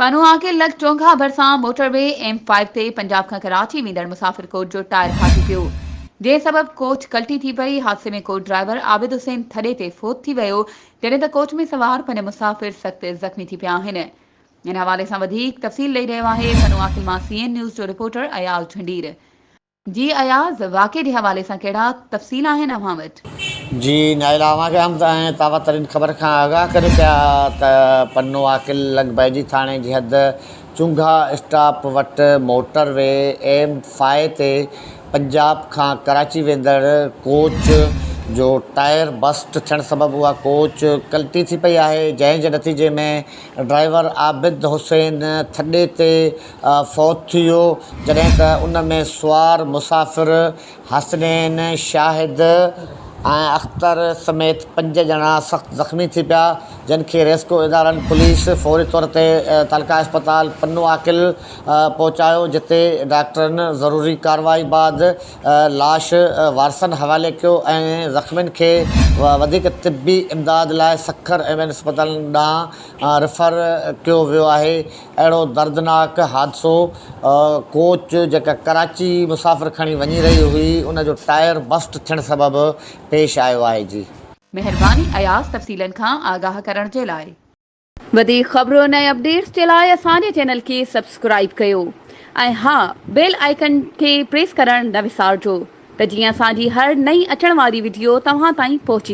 پنهون آگي لڳ چونگها ڀرسان موٽر وي ايم فائيو تي پنجاب کان ڪراچي ويندڙ مسافر ڪوچ جو ٽائر ڦاٽي پيو جنهن سبب ڪوچ ڪلٽي ٿي پئي حادثي ۾ ڪوچ ڊرائيور عابد حسين ٿڏي تي فوت ٿي ويو جڏهن ته ڪوچ ۾ سوار پنج مسافر سخت زخمي ٿي پيا آهن ان حوالي سان وڌيڪ تفصيل ڏئي رهيو آهي پنهون آگي مان سي اين نيوز جو رپورٽر اياز جھنڊير جي اياز، واقعي جي حوالي سان ڪهڙا تفصيل آهن اوهان وٽ؟ جي نائلا، اوهان کي احمد ۽ تابا ترين خبر کان آگاهه ڪري پيا ته پنو عاقل لڳڀيجي ٿاڻي جي حد چونگها اسٽاپ وٽ موٽر وي ايم فائو تي پنجاب کان ڪراچي ويندڙ ڪوچ جو ٽائر بسٽ ٿيڻ سبب اها ڪوچ ڪلٽي ٿي پئي آهي جنهن جي نتيجي ۾ ڊرائيور عابد حسين ٿڏي تي فوت ٿي ويو، جڏهن ته ان ۾ سوار مسافر حسنين، شاهد ۽ اختر سميت پنج ڄڻا سخت زخمي ٿي پيا، جن کي ريسڪيو ادارن پوليس فوري طور تي تعلقه اسپتال پنو عاقل پهچايو، جتي ڊاڪٽرن ضروري ڪارروائي بعد لاش وارثن حوالي ڪيو ۽ زخمين کي وڌيڪ طبي امداد لاء سکر ايم اين اسپتال ڏانهن ريفر ڪيو ويو آهي. اهڙو دردناڪ حادثو ڪوچ جيڪا ڪراچي مسافر کڻي وڃي رهي هئي ان جو ٽائر بسٽ ٿيڻ سبب پيش آيو آهي جي. مهرباني اياز تفصيلن کان آگاهه ڪرڻ جي لاء. وڌيڪ خبرن ۽ اپڊيٽس جي لاء اسان جي چينل کي سبسڪرائيب ڪيو ۽ ها بيل آئيڪن کي پريس ڪرڻ نه وسارجو ته جيئن اسان جي هر نئين اچڻ واري وڊيو توهان تائين پهچي.